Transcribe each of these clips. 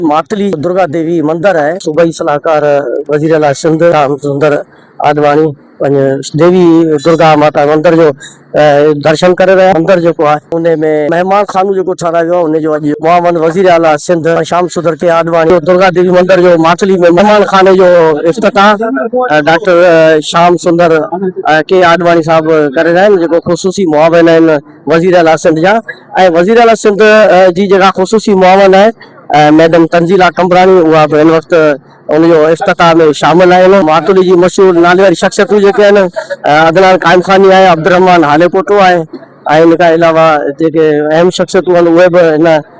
ماتلي درگا ديوي مندر آهي. صوبائي صلاحڪار وزيراعليٰ سنڌ شيام سندر آڏواڻي پنهنجي ديوي درگا ماتا مندر جو درشن ڪري رهيا. مندر جيڪو آهي ان ۾ مهمان خانو جيڪو ٺهرايو ويو آهي ان جو اڄ معاون وزيراعليٰ سنڌ شيام سندر ڪي آڏواڻي درگا ديوي مندر جو ماتلي ۾ مهمان خاني جو افتتاح ڊاڪٽر شيام سندر ڪي آڏواڻي صاحب ڪري رهيا آهن جيڪو خصوصي معاون آهن. وزيراعليٰ سنڌ جا ۽ وزيراعليٰ سنڌ جي جيڪا خصوصي معاون آهي ميڊم تنزيلا قمبراڻي اها به هن وقت ان جو افتتاح ۾ شامل آهي ان ماٿري جي مشهور نالي واري شخصيتون جيڪي آهن عدنان قائم خاني آهي عبدالرحمان هاليپوٽو آهي ۽ ان کان علاوه جيڪي اهم شخصيتون آهن اهي به هن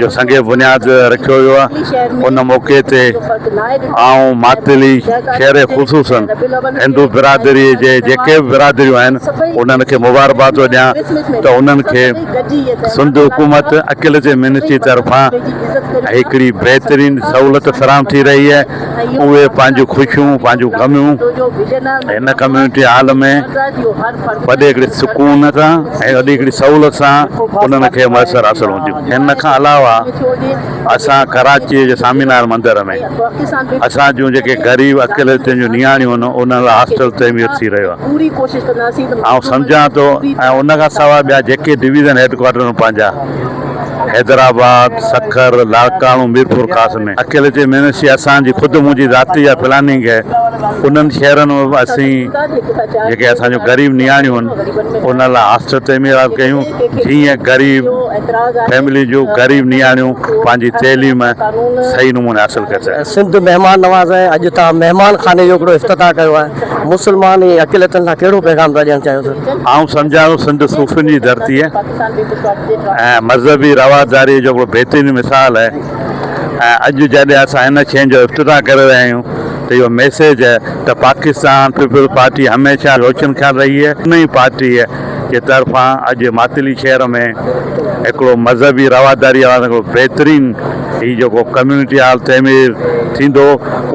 جو سنگين بنياد رکيو ويو آهي ان موقعي تي آئون ماتيلي شهري خصوصن هندو برادري جي جيڪي به برادريون آهن انهن کي مبارباد ٿو ڏيان ته انهن کي سنڌ حڪومت اڪيليچر منسٽري طرفان هڪڙي بهترين سهولت فراهم ٿي رهي آهي اهي پنهنجون خوشيون، پنهنجون غميون هن ڪميونٽي هال ۾ وڏي هڪڙي سڪون سان ۽ وڏي هڪڙي سهولت سان انهن کي ميسر حاصل هونديون. ان کان علاوه اسان ڪراچيء جي سامي نارائڻ مندر ۾ اسان جون جيڪي غريب اقليتن جون نياڻيون هن انهن لاء هاسٽل تعمير ٿي رهيو آهي. آئون سمجهان ٿو ۽ ان کان سواء ٻيا جيڪي ڊويزن هيڊ ڪوارٽر ۾ پنهنجا حيدرآباد، سکر، لاڙڪاڻو، ميرپورخاص ۾ اڪيلي جي مينسي اسان جي خود منهنجي ذاتي جا پلاننگ هي انهن شهرن ۾ به اسين جيڪي اسان جون غريب نياڻيون هن انهن لاء هاسٽل تعميرات ڪيون جيئن غريب فيملين جون غريب نياڻيون پنهنجي تعليم صحيح نموني حاصل ڪري سگهن. سنڌ مهمان نواز آهي اڄ تان مهمان خاني جو هڪڙو افتتاح ڪيو آهي مسلمان ۽ اقليتن کان ڪهڙو پيغام ٿا ڏيڻ چاهيو سر. آئون سمجهان ٿو سنڌ صوفين جي ڌرتي آهي. ۽ مذهبي رواداريء جو ڪو بهترين مثال آهي ۽ اڄ جڏهن اسان ان شين جو افتتاح ڪري رهيا آهيون ته اهو ميسيج ته پاڪستان پيپلز پارٽي هميشه روشن خيال رهي آهي ان ئي پارٽيء جي طرفان اڄ ماتلي شهر ۾ هڪڙو مذهبي رواداريء وارن هڪڙو بهترين هي جيڪو ڪميونٽي هال تعمير ٿيندو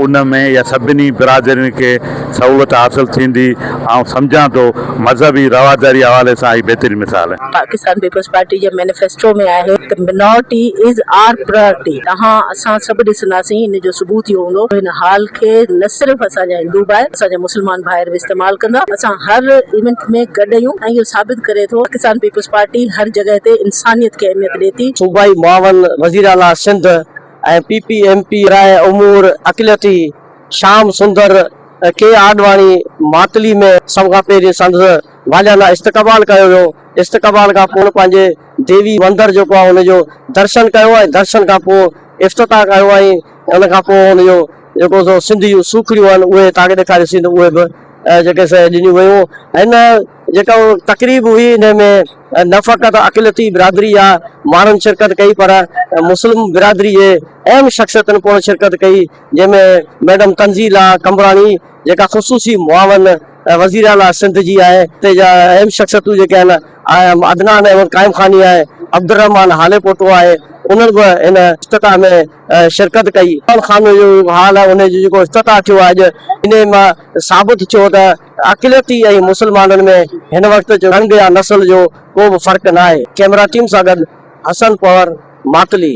ان ۾ اها سڀني برادرين کي سهولت حاصل ٿيندي، آئون سمجهان ٿو مذهبي رواداري حوالي سان هي بهترين مثال آهي. پاڪستان پيپلز پارٽي جي مينيفيسٽو ۾ آهي ته Minority is our Priority توهان اسان سڀ ڏسنداسين ان جو ثبوت اهو هوندو ته هن هال کي نه صرف اسان جا هندو ڀائر اسان جا مسلمان ڀائر به استعمال ڪندا اسان هر ايونٽ ۾ گڏ اهيون ۽ اهو ثابت ڪري ٿو پاڪستان پيپلز پارٽي هر جڳهه تي انسانيت کي اهميت ڏي ٿي. صوبائي معاون وزيراعليٰ Sindh ۽ P P M P برائي امور اقليتي شيام سندر، ڪي آڏواڻي، ماتلي ۾ سڀ کان پهرين سندس واليانه استقبال ڪيو ويو. استقبال کان پوء پنهنجي ديوي مندر جيڪو آهي ان جو درشن ڪيو ۽ درشن کان پوء افتتاح ڪيو ۽ ان کان پوء ان جو جيڪو سو سنڌ جون سوکڙيون آهن اهي تان کي ڏيکاريون سين اهي به جيڪي سي ڏنيون ويون. هن جيڪا تقريب هئي ان ۾ نه فقط اقليتي برادري جا ماڻهن شرڪت ڪئي پر مسلم برادري جي اهم شخصيتن پڻ شرڪت ڪئي. جنهن ۾ ميڊم تنزيلا قمبراڻي جيڪا خصوصي معاون وزير اعليٰ سنڌ جي آهي تي جا اهم شخصيتون جيڪي آهن آهن عدنان احمد قائم خاني آهي عبدالرحمان هالي پوٽو آهي انهن به ان افتتاح ۾ شرڪت ڪئي عدنان خاني جو هال آهي ان جو جيڪو افتتاح ٿيو آهي اڄ انهي مان ثابت ٿيو ته اقليتي ۽ مسلمانن ۾ هن وقت جو رنگ يا نسل جو ڪو به فرق ناهي ڪيمرا ٽيم سان گڏ حسن پنور ماتلي.